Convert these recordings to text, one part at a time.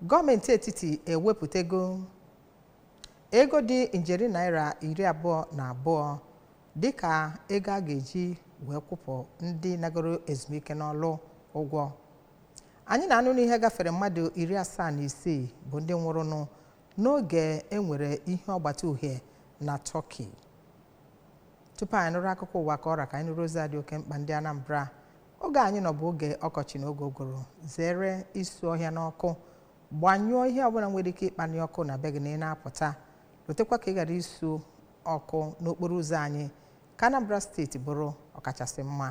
gọọmenti etiti ewepụtago ego dị njeri naira iri abụọ na abụọ dịka ego a ga-eji wee kwụpụ ndị nagoro ezumike n'ọlụ ụgwọ anyị na-anụ n'ihe gafere mmadụ iri asaa na isii bụ ndị nwụrụnụ n'oge enwere ihe ọgbata uhie na Turkey tupu anyị nụrụ akụkọ ụwa ka ọ ra ka anyị nụrụ ozi dị oke mkpa ndị anambra oge anyị nọ bụ oge ọkọchị na oge ụgụrụ zere isu ọhịa n'ọkụ gbanyụọ ihe ọbụla nwere ike ịkpali ọkụ na be gị na ị na-apụta lotekwa ka ị ghara isu ọkụ n'okporo ụzọ anyị ka Anambra steeti bụrụ ọkachasị mma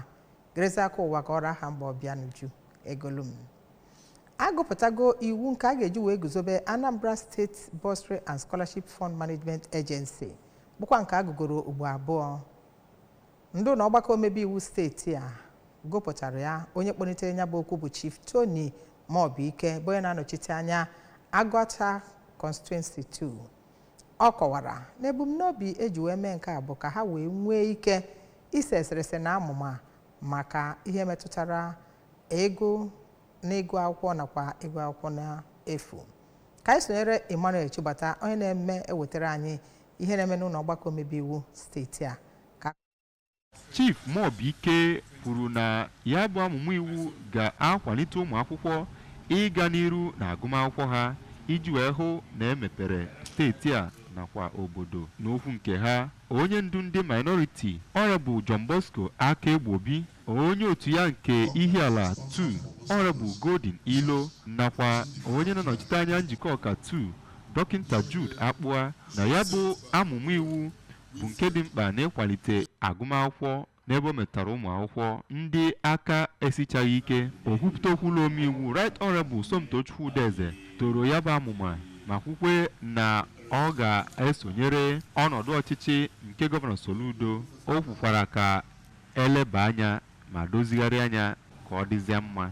gerezie akụkọ ụwa ka ọ ra aha m bụ Obianuju Egolum agụpụtago iwu nke a ga-eji wee guzobe Anambra State Bursary and Scholarship Fund Management Agency bụkwa nke agụgoro ugbo abụọ ndị ụnọ ọgbakọ omebe iwu steeti a gụpụtara ya onye kpọnitere ya bụ okwu bụ chief tony muobike bụ onye na-anọchite anya agụata constituency 2 ọ kọwara na ebumnobi eji wee mee nke a bụ ka ha wee nwee ike ise eserese na amụma maka ihe metụtara ego na ịgụ akwụkwọ nakwa ịgụ akwụkwọ n'efu ka anyị sonyere emmanuel chigbata onye na-eme ewetara anyị ihe na-eme n'ụnọ ọgbakọ omebe iwu steeti a Chief Muobike kwuru na ya bụ amụma iwu ga-akwalite ụmụ akwụkwọ ịga n'iru na agụmakwụkwọ ha iji wee hụ na emepere steeti a nakwa obodo n'okwu nke ha onye ndu ndị minority Honorable John Bosco Akaegbobi onye otu ya nke Ihiala 2 Honorable Golden Iloh nakwa onye na-anọchite anya Njikọka 2 dọkịnta Jude Akpụa na ya bụ amụma iwu bụ nke dị mkpa n'ịkwalite agụmakwụkwọ n'ebe o metụtara ụmụ akwụkwọ ndị aka esichaghị ike okwupụta okwu ụlọ omeiwu right honorable somtochukwu udeze toro ya bụ amụma ma kwukwe na ọ ga-esonyere ọnọdụ ọchịchị nke gọvanọ soludo o kwukwara ka eleba anya ma dozigharịa nya ka ọ dịzie mma